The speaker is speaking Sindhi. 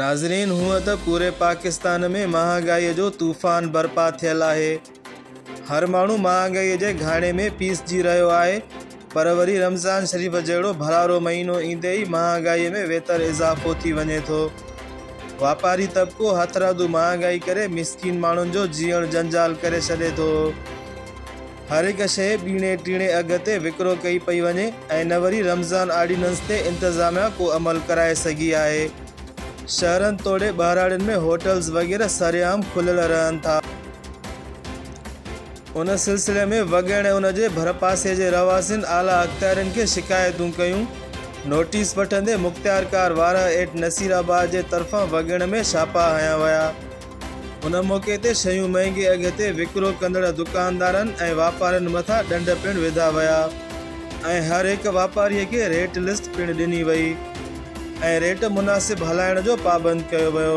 ناظرين هونء ته پوري پاڪستان ۾ مهانگائي جو طوفان برپا ٿيل آهي هر ماڻهو مهانگائي جي گهاڻي ۾ پيسجي رهيو آهي پر وري رمضان شريف جهڙو ڀرارو مهينو ايندي ئي مهانگائي ۾ ويتر اضافو ٿي وڃي ٿو واپاري طبقو هٿرادو مهانگائي ڪري مسڪين ماڻهن جو جيئڻ جنجال ڪري ڇڏي ٿو. هر هڪ شيء ٻيڻي ٽيڻي اگهه تي وڪرو ڪئي پئي وڃي ۽ نه وري رمضان آرڊيننس تي انتظاميا ڪو عمل ڪرائي سگهي آهي. شهرن توڙي ٻهراڙين ۾ هوٽلز وغيره سرعام کليل رهن ٿا. ان سلسلي ۾ وڳهڙ ۽ ان جي ڀرپاسي جي رهواسين اعليٰ اختيارين کي شڪايتون ڪيون. نوٽيس وٺندي مختيارڪار وارهه ايٽ نصير آباد جي طرفان وڳهڙ ۾ ڇاپا هنيا ويا. ان موقعي تي شيون مهنگي اگهه تي وڪرو ڪندڙ دڪاندارن ۽ واپارين مٿان ڏنڊ پڻ وڌا ويا ۽ هر هڪ واپاري کي ريٽ لسٽ پڻ ڏني وئي ۽ ريٽ مناسب هلائڻ جو پابند ڪيو ويو.